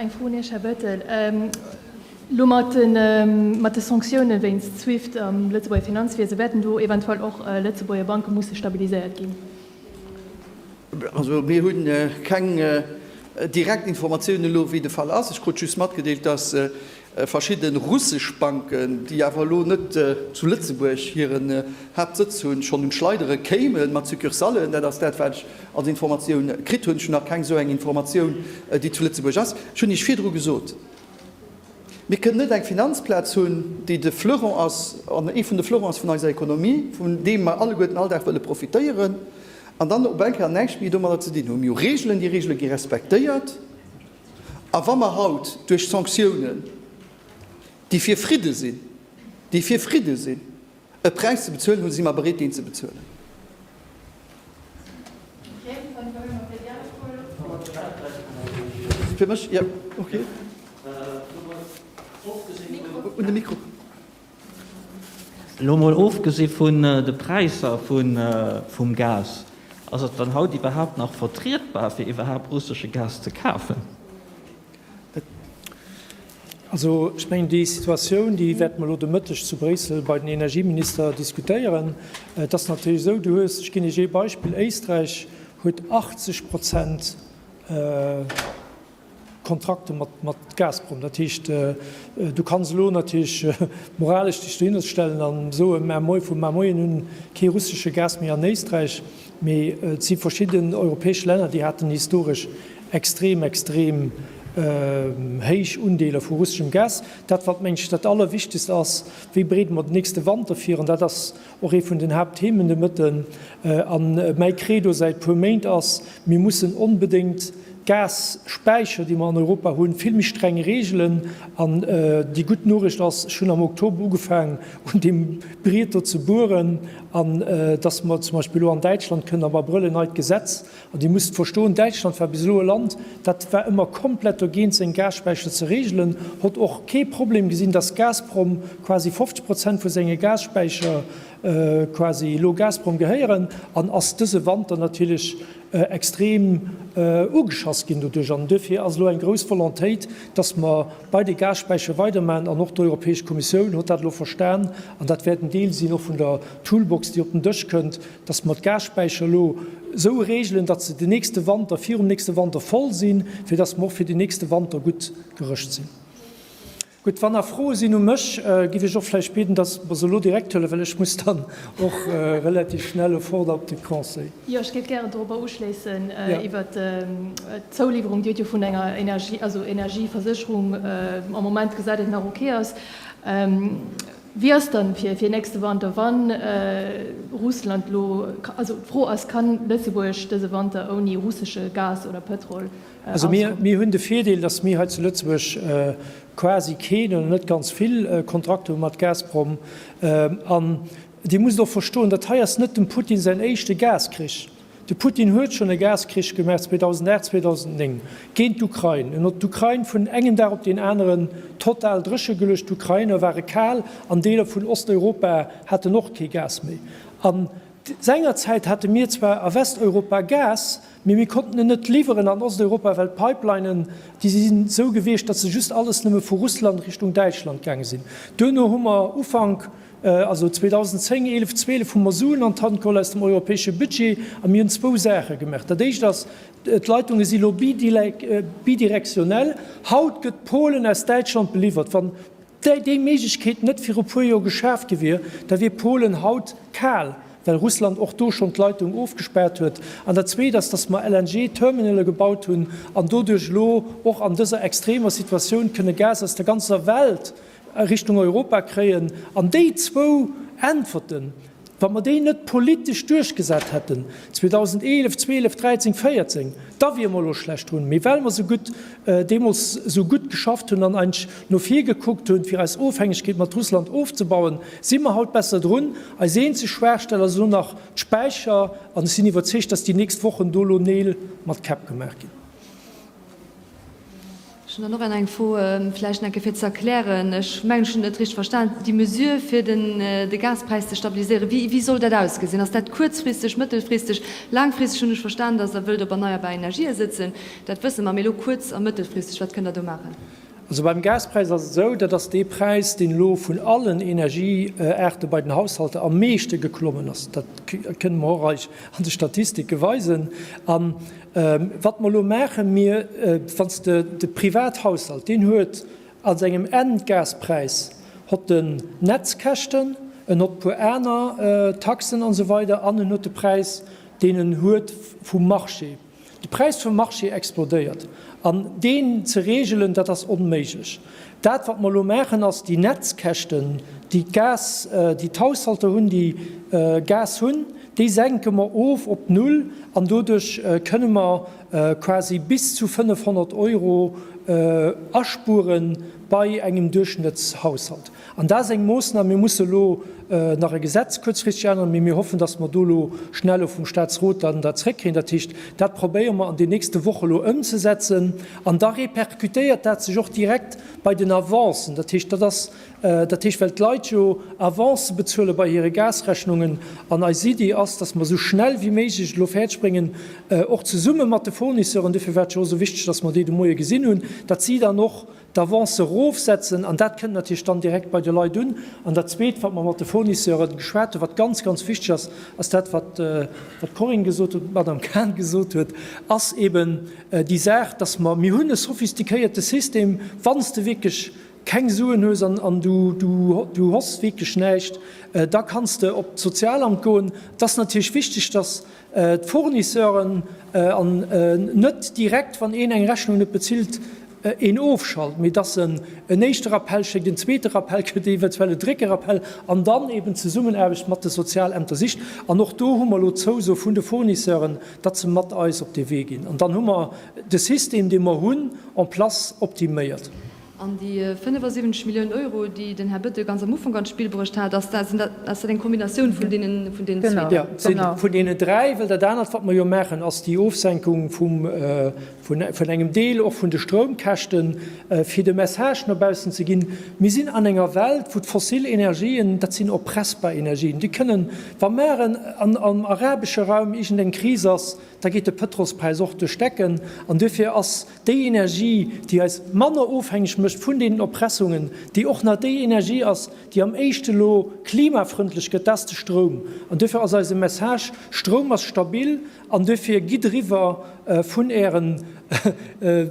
Eng Fro un Iech, Här Bettel. Elo mat de Sanktioune wéinst Swift am Lëtzebuerger Finanzwiese, wäerten do eventuell och Lëtzebuerger Banke musse stabiliséiert ginn? Also mir hu keng direkt Informatioune elo, wéi de Fall ass. Ech krut just matgedeelt, datt Verschidde russesch Banken, déi awer elo net zu Lëtzebuerg hiren Haaptsëtz hunn, schonn un d'Schleidere kéimen, mat Succursallen. Dat ass dat, wat ech als Informatioun kritt hunn. Ech hunn nach keng esou eng Informatioun, déi zu Lëtzebuerg ass. Ech hunn Iech virdru gesot, Mir kënnen net eng Finanzplaz hunn, déi de Fleuron ass, an ee vun de Fleurons vun eiser Ekonomie, vun deem mer alleguerten all Dag wëlle profitéieren, an dann op eng Kéier näischt méi domadder ze dinn hunn. Mir hu Reegelen, déi Reegele gi respektéiert. A wa mer haut duerch Sanktiounen, déi fir Fridde sinn, déi fir Fridde sinn, e Präis ze bezuelen hunn, si mer bereet deen ze bezuelen. Elo mol ofgesi vun de Präisser vum Gas, ass et dann haut iwwerhaapt nach vertrietbar fir iwwerhaapt russesche Gas ze kafen? Also ech mengen déi Situatioun, déi wäerte mer elo de Mëtteg zu Bréissel bei den Energieminister diskutéieren. Et ass natierlech esou, du hues, ech ginn Iech ee Beispill, Éisträich huet 80 Prozent, Kontrakte mat Gazprom. Dat heescht, du kanns elo natierlech moralesch dech dohinner stellen a soen, mä moi vu mar moien un kee russesche Gas méi an Éisträich. Mee et si verschidden europäesch Länner, déi haten historesch extrem, extrem héich Undeeler vu russeschem Gas. Dat wat, mengen ech, dat Allerwichtegst ass, Wéi bereede mer den nächste Wanter vir? An dat ass Och ee vun den Haaptthemen de Mëtten a mäi Credo säit puer Méint ass, Mir mussen onbedéngt d'Gas-Späicher, déi mer an Europa hunn, vill méi streng regelen. An déi gutt Noriicht ass, Ech hunn am Oktober ugefaangen un deem Briet do ze bueren, an dass mer zum Beispill elo an Däitschland kënnen am Abrëll en neit Gesetz An Dir musst verstoen, Däitschland war bis elo e Land, dat war ëmmer komplett dogéint, seng Gasspäicher ze reegelen, hott och kee Problem gesinn, dass Gazprom quasi 50 Prozent vu senge Gasspäicher quasi elo Gazprom gehéieren, an ass dëse Wanter natierlech extrem ugeschass ginn doduerch. An duerfir ass elo eng grouss Volontéit, dass mer bei de Gasspäicher weidermachen. An och d'Europäesch Kommissioun hott dat elo verstan, an dat wäert en Deel sinn och vun der Toolbox, déi op den Dësch kënnt, Dass mer d'Gasspäicher elo esou regelen, dass se den nächste Wanter, virum nächste Wanter voll sinn, fir dass mer och fir den nächste Wanter gutt gerëscht sinn. Gutt, wann nach Froe sinn u mech, giff ech och vläicht bieden, dass et mer se elo direkt huelen, well ech muss dann och relativ schnell o fort op de Conseil. Jo, ech géif gären dorobber uschléissen iwwert d'Zouliwwerung. Dir hutt jo vun enger Energie, also Energieversécherung, am Moment gesät, déi nach okay ass. Wéi ass dann fir fir nächste Wanter wann Russland lo, also d'Fro ass, kann Lëtzebuerg dëse Wanter ouni russesche Gas oder Pëtrol auskommen? Mir hunn de Virdeel, dass mir hei zu Lëtzebuerg quasi keen oder net ganz vill Kontrakte hu mat Gazprom. An Dir musst och verstoen, dat hei ass net dem Putin säin éischte Gaskrich. De Putin huet schonn e Gaskrich gemaach 2008, 2009 géint d'Ukrain. En huet d'Ukrain vun engem Dag op deen aneren total dréche geluecht. D'Ukrainer ware kal an Deeler vun Osteuropa haten och kee Gas méi. An sengerzäit hate mir zwar a Westeuropa Gas, mee mir konnten en net liwweren an Osteuropa, well d'Pipelinen, déi si sinn esou gewiescht, datt se just alles nëmme vu Russland Richtung Däitschland gaange sinn. Duerno hu mer Ufank Also 2010, 11, 12 hu mer Suen an d'Hand geholl aus dem europäesche Budget a mir hunn zwou Saache gemaach. Dat Éischt ass, d'Leitungen si elo bidirektionnel. Haut gëtt Polen aus Däitschland beliwwert. Wann déi Méiglechkeet net viru puer Joer geschaaft gi wier, da wier Polen haut kal, well Russland och do schonn d'Leitung ofgespaart huet. An dat Zweet ass, datt mer LNG-Terminale gebaut hunn an doduerch elo och an dëser extremer Situatioun kënne Gas aus der ganzer Welt a Richtung Europa kréien, an déi zwou Äntwerten, wa mer déi net politesch duerchgesat hätten 2011, 12, 13, 14, da wiere mer elo schlecht drun. Mee well mer esou gutt deemools esou gutt geschafft hunn an eig no vir gekuckt hunn, fir eis Ofhängegkeet mat Russland ofzebauen, si mer haut besser drun. Eis eenzeg Schwaachstell ass elo nach d'Späicher an ech sinn iwwerzeegt, dass déi nächst Wochen do elo Neel mat Käpp gemaach ginn. Ech hunn dann och eng eng Fro, vläicht enke fir ze erklären, ech mengen, ech hunn et net richteg verstan, déi Mesure fir den de Gaspräis ze stabiliséieren, wéi wéi soll dat ausgesinn? Ass dat kuerzfristeg, mëttelfristeg, laangfristeg? Hunn ech verstan, datt Der wëllt op erneierbar Energië sëtzen, dat wësse mer, mee elo kuerz a mëttelfristeg, wat kënnt Der do maachen? Also beim Gaspräis ass et esou, dat ass dee Präis, deen elo vun allen Energieaarte bei den Haushalter am meeschte geklommen ass. Dat kënnen mer och eis an de Statistiken weisen. Wat mer elo maachen, mir, wann s de de Privathaushalt, deen huet a sengem Endgaspräis hott en Netzkäschten, en hott puer aner Taxen an esou weider an en huet de Präis, deen en huet vum Marché. De Präis vum Marché explodéiert an deen ze regelen, dat ass onméiglech. Dat, wat mer elo maachen, ass déi Netzkäschten, déi d'Gas, déi d'Haushalter hunn, déi Gas hunn, déi senke mer of op Null an doduerch kënne mer quasi bis zu 500 Euro aspure bei engem Duerchschnëttshaushalt. An dat ass eng Moossnam, mir musse elo nach e Gesetz kuerzfristeg änneren, mee mir hoffen, datt mer do elo schnell och vum Statsrot dann dat zrëckkréien. Dat heescht, dat probéiere mer an den nächste Woche elo ëmzesetzen. An da répercutéiert dat sech och direkt bei den Avancen. Dat heescht, dat ass, dat heescht, well d'Leit jo Avancë bezuele bei hire Gasrechnungen. An eis Iddi ass, dass mer esou schnell wéi méiglech et elo fäerdeg bréngen, och zesumme mat de Fournisseuren, dofir war et jo och esou wichteg, dass mer déi de Moie gesinn hunn, datt si dann och d'Avancë erofsetzen. An dat kënnt natierlech dann direkt bei de Leit un. An dat Zweet, wat mer mat de Fournisseuren geschwat hunn, wat ganz, ganz wichteg ass, ass dat, wat d'Corinne gesot huet, wat d'Madamm Cahen gesot huet, ass eeben, Déi Saach, dass mer, mir hunn e sophistiquéierte System, wann s de wierklech keng Suen hues an du hoss wierklech näischt, da kanns de op d'Sozialamt goen. Et ass natierlech wichteg, dass d'Fournisseuren net direkt, wann een eng Rechnung net bezilt, een ofschalt, mee dass en en éischte Rappell schéckt, en zweete Rappell kritt, eventuell e drécke Rappell, an dann eeben d'Zesummenaarbecht mat de Sozialämter sicht. An och do hu mer elo d'Zouso vun de Fournisseuren, datt se mat eis op dee Wee ginn, an dann hu mer de System, dee mer hunn, en place optiméiert. An déi 75 Milliounen Euro, déi den Här Bettel ganz am Ufank an d'Spill bruecht hat, ass dat eng Kombinatioun vun deenen zwee? Jo, et si vun deenen dräi, well dat anert, wat mer jo maachen, ass déi Ofsenkung vum vun engem Deel och vun de Stroumkäschten, fir de Message no baussen ze ginn, Mir sinn an enger Welt, wou d'fossil Energien, dat sinn oppressbar Energien, déi kënnen, wa mar am arabesche Raum iergendeng Kris ass, da geet de Pëtrolspräis och duerch d'Decken. An duerfir ass déi Energie, déi eis manner ofhängeg mécht vun deenen Oppressungen, déi och nach déi Energie ass, déi am éischte elo klimafrëndlech gëtt, dat ass de Stroum. An duerfir ass eise Message, Stroum ass stabil. An duerfir, gitt eriwwer vun Ären,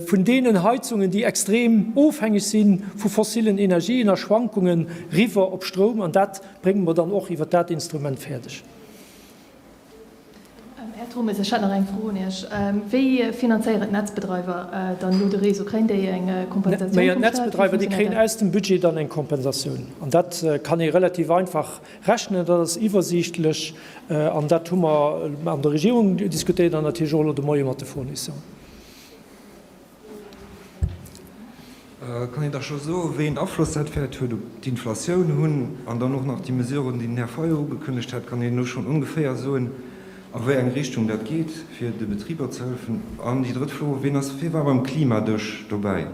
vun deenen Heizungen, déi extrem ofhängeg si vu fossillen Energien a Schwankungen, eriwwer op Stroum. An dat brénge mer dann och iwwer dat Instrument fäerdeg. Här Turmes, ech hätt nach eng Fro un Iech. Wéi finanzéieren d'Netzbedreiwer dann elo de Réseau? Kréien déi eng Kompensatioun vum Stat? Wéi finanzéieren d'Netzbedreiwer de Réseau? Déi kréien aus dem Budget dann eng Kompensatioun. An dat kann ee relativ einfach Rechnen, dat ass iwwersiichtlech an dat hu mer an der Regierung diskutéiert an natierlech och elo de Moie mat de Fournisseuren. Kann een da scho soen, wéi een Afloss dat wäert huet op d'Inflatioun hunn? An dann och nach déi Mesuren, déi den Här Fayot ugekënnegt hat, kann een elo schonn ongeféier soen, a wéi eng Richtung dat geet, fir de Betriber ze hëllefen? An déi drëtt Fro, Ween ass firwat beim Klimadësch dobäi?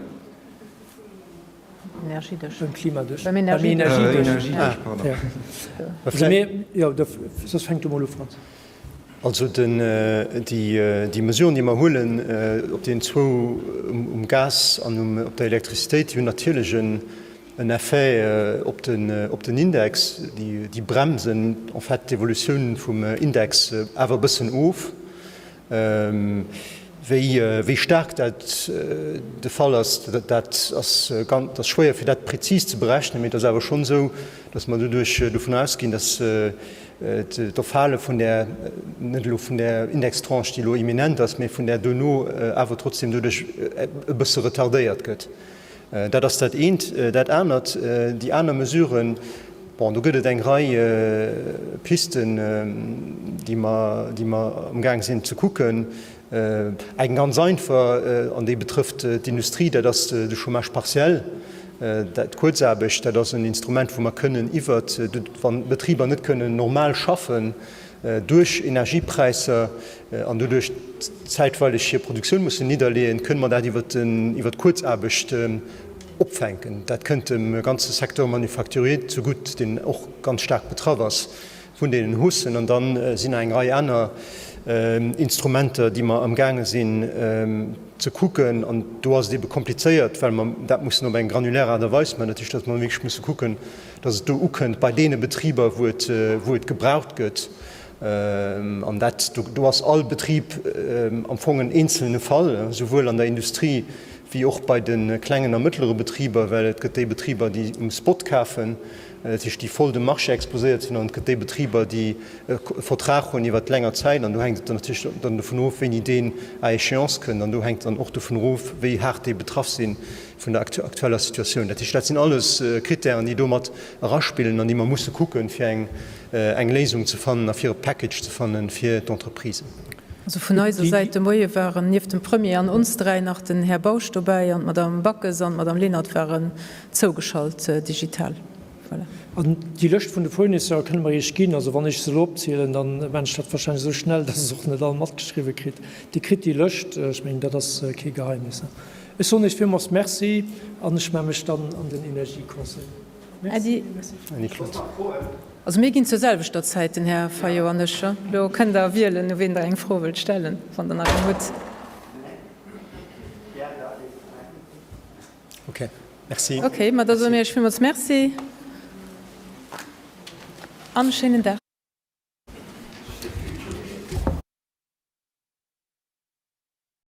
déi Mesuren, déi mer huelen op deenen zwou, um Gas an op der Elektrizitéit, déi hunn natierlech en Effet op den Index. Déi bremsen en fait d'Evolutioun vum Index awer e bëssen of. Wéi staark dat de Fall ass, dat ass schwéier fir dat prezis ze berechnen, mee et ass awer schonn esou, datt mer doduerch dovun ausginn, datt d'Erfale vun där, net elo vun där Indextranche, déi elo imminent ass, mee vun där dono awer trotzdem doduerch e bësse retardéiert gëtt. Dat ass dat eent. Dat anert, déi aner Mesuren, bon, do gëtt et eng Rei Pisten, déi mer, déi mer amgaang sinn ze kucken. Eng ganz einfach, an déi betrëfft d'Industrie, dat ass de Chômage partiel, d'Kuerzaarbecht. Dat ass en Instrument, wou mer kënnen iwwert, wann d'Betriber net kënnen normal schaffen, duerch Energiepräisser an doduerch zäitweileg hir Produktioun mussen nidderleeën, kënne mer dat iwwert d'Kuerzaarbecht opfänken. Dat kënnt dem ganze Secteur manufacturier zegutt, deen och ganz staark betraff ass vun deenen Haussen. An da sinn nach eng Rei aner Instrumenter, déi mer amgaange sinn ze kucken. An do ass et ebe komplizéiert, well mer dat mussen op eng granulär Aart a Weis maachen. Dat heescht, datt mer wierklech musse kucken, dass et do ukënnt bei deene Betriber, wou et gebraucht gëtt, an dat do ass all Betrib am Fong en eenzelne Fall, souwuel an der Industrie wéi och bei de klengen a mëttlere Betriber, well et gëtt déi Betriber, déi um Spot kafen, dat heescht, déi voll dem Marché exposéiert sinn, an et gëtt déi Betriber, déi e Vertrag hunn iwwert länger Zäit, an do hänkt et dann natierlech dann dovun of, wéini deen à échéance kënnt, an do hänkt dann och dovun of, wéi haart déi betraff sinn, vun der aktueller Situatioun. Dat heescht, dat sinn alles Krittären, déi do mat eraspillen an déi mer musse kucken, fir eng Léisung ze fannen a fir e Package ze fannen fir d'Entreprisen. Also vun eiser Säit de Moie waren nieft dem Premier an ons dräi nach den Här Bausch dobäi an d'Madame Backes an d'Madame Lenert waren zougeschalt digital. Voilà. An déi Lëscht vun de Fournisseur kënne mer Iech ginn. Also wann ech se elo opzielen, da man ech dat warscheinlech esou schnell, dass Der se och net all matgeschriwwen kritt. Dir kritt déi Lëscht. Ech mengen, dat ass kee Geheimnis. Ech soen Iech villmools Merci an ech melle mech dann an den Energieconseil. Merci. Merci Claude. Also mir ginn zur selwechter Zäit, den Här Fayot an ech. Elo kënnt Der wielen, u wien Der eng Fro wëllt stellen, wann Der nach eng hutt. Okay, merci. Okay, ma da soe mir Iech villmools Merci an e schéinen Dag.